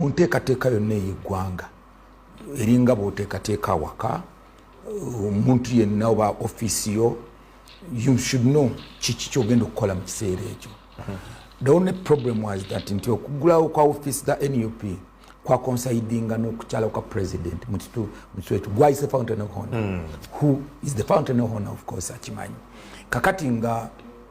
mu nteekateeka yonna ey'eggwanga eringa bw'oteekateeka awaka omuntu yenna oba ofiisi yo you should know kiki kyogenda okukola mu kiseera ekyo the only problem was that nti okugulawo kwa ofiisi za nup kwakonsaidinga n'okukyala kwa president mu kitu ekyo gwayise fountain of honor hmm. who is the fountain of honor of course akimanyi kakati nga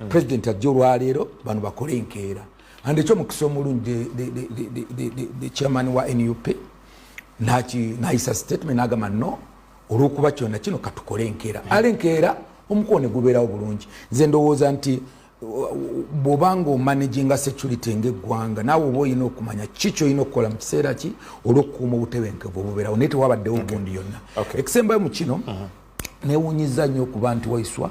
mm. president ajja olwaleero bano bakole enkeera and ekyo mukisa omulungi the chairman wa nup nayisa statement nagamba no olwokuba kyona kino katukole enkeera mm. ale enkeera omukono negubeerawo bulungi nze ndowooza nti bwobanga omanaginga security ngaeggwanga naawe oba olina okumanya ki kyolina okukola mu kiseera ki olwokukuuma obutebenkevu obubeerawo naye tewabaddewo gundi yonna ekisembayo mu kino uh-huh. newunyiza nnyo okuba nti waiswa